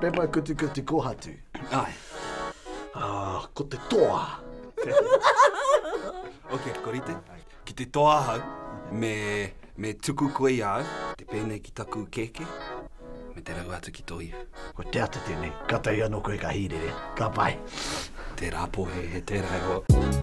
Pepa kutukutu kohatu. Ai. Ah, ko te toa. ok, ko rite. Ki te toa hau, me, me tuku koe i au, te pēnei ki taku keke, me te rau atu ki tō iwi. Ko te atu tēnei, ka tahi anō koe ka hīrere. Ka pai. Tērā pō he, he tērā e hoa.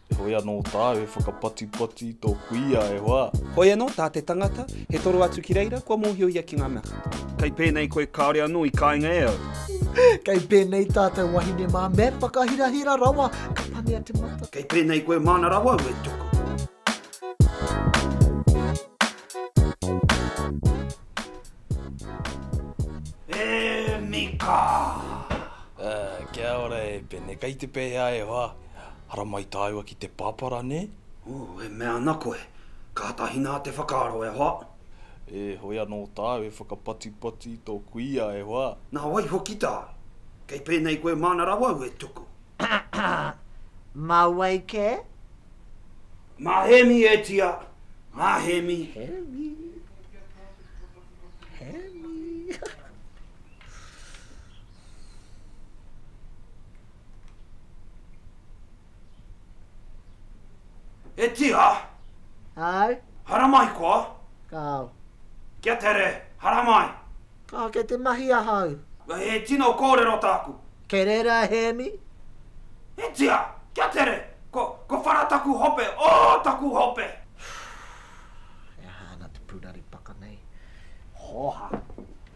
Heoi anō tāu e whakapatipati i tō kuia, e hoa! Hoi anō tā te tangata, he toro atu ki reira, kua mōhio ia ki ngā mea katoa. Kei pēnei koe kāore anō i kainga e au. Kei pēnei tātou wahine mā, me whakahirahira rawa, ka panea te mata. Kei pēnei koe māna rawa au e tuku. E Mika! Ā, kia ora e Pene, kei te pēhea e hoa? Haramai tāua ki te pāpara, nē? Ū, e mea ana koe, kātahi nā te whakaaro e hoa. E, hoi anō tāu e whakapatipati i tō kuia e hoa. Nā wai hoki tāu? Kei pēnei koe māna rawa au e tuku. Mā wai kē? Mā Hēmi e tia, mā Hēmi. Hēmi. Hēmi. E tira! Ai. Haramai koa! Kāo. Kia tere, haramai! Kāo, kei te mahi ahau. He tino kōrero tāku. Kei reira a Hēmi? E tira! Kia tere! Ko, ko whara taku hope, oh taku hope! He aha ana te pūraripaka nei? Hōha!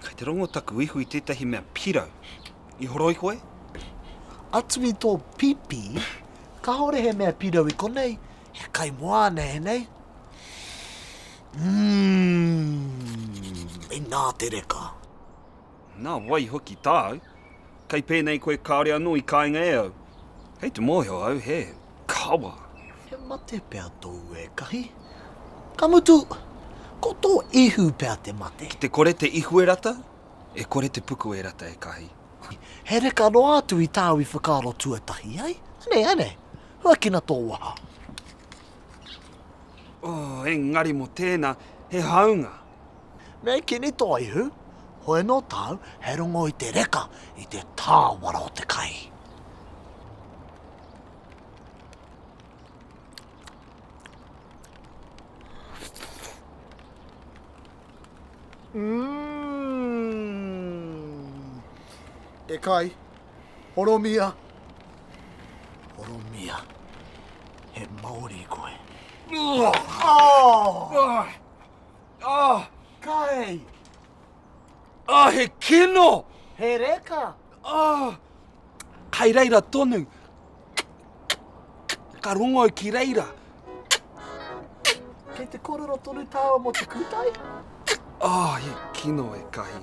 Kei te rongo taku ihu i tētahi mea pirau. I horoi koe? Atu i tō pipi, kāore he mea pirau i konei, he kai moana ēnei. Umm, inā te reka. Nā wai hoki tāu? Kei pēnei koe kāore anō i kainga e au. Kei te mōhio au he. Kawa! He mate pea tōu ekahi? Ka mutu, ko tō ihu pea te mate. Ki te kore te ihu e rata, e kore te puku e rata ekahi. He reka noa atu i tāu i whakaaro tuatahi ai. Anei, anei, huakina tō waha. Oh, engari mō tēnā, he hāunga. Me kini tō ihu, hoi anō tāu, he rongo i te reka, i te tāwara o te kai. E kai, horomia, horomia, he maori koe. Oh! Oh! Oh! Kai! Ah, he kino! He reka! Ah, kai reira tonu. Ka rongo ki reira. Kei te korero tonu tāua mo te kūtai? Ah, he kino e kahi.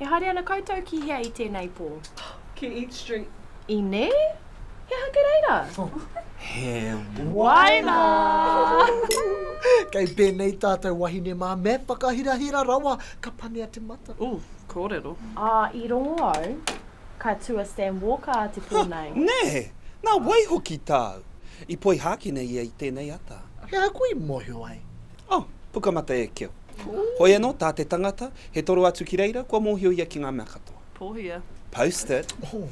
E haere ana koutou ki hea i tēnei pō? Ki Eat Street. Ine? He aha te reira? He waina! Kei pēnei tātou wahine mā, me whakahirahira rawa, ka panea te mata. Ooh, kōrero. Ā, i rongo au, ka tua Stan Walker te pō nei. Huh! Nē! Nā wai hoki tāu? I poihākina ia i tēnei ata. He aha koe i mōhio ai? Oh, Pukamata e keo. Hoi anō, tā te tangata, he toro atu ki reira, kua mōhio ia ki ngā mea katoa. Pōhia. Post it. Oh,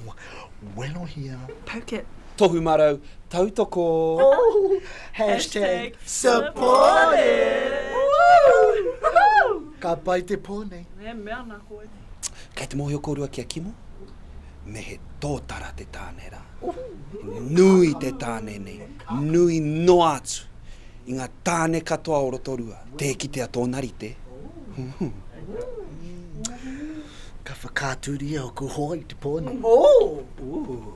Welohia. Poke it. Tohu marau, tautoko. Oh, hashtag supported. Woohoo! Ka pai te pō nei. E mea ana koe nei. Kei te mōhio kōrua ki a Kimo, me he tōtara te tāne rā. Nui te tāne nei, nui noa atu. I ngā tāne katoa o Rotorua, tē kitea tōna rite. Ka whakaaturia ōku hoa i te pō nei. Ooh!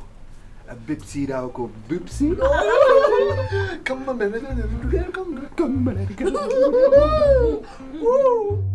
A bipsy rā ōku bipsy. Ka mamerara rā ōku raraunga. Ka mararika rā ōku raraunga. Ooh!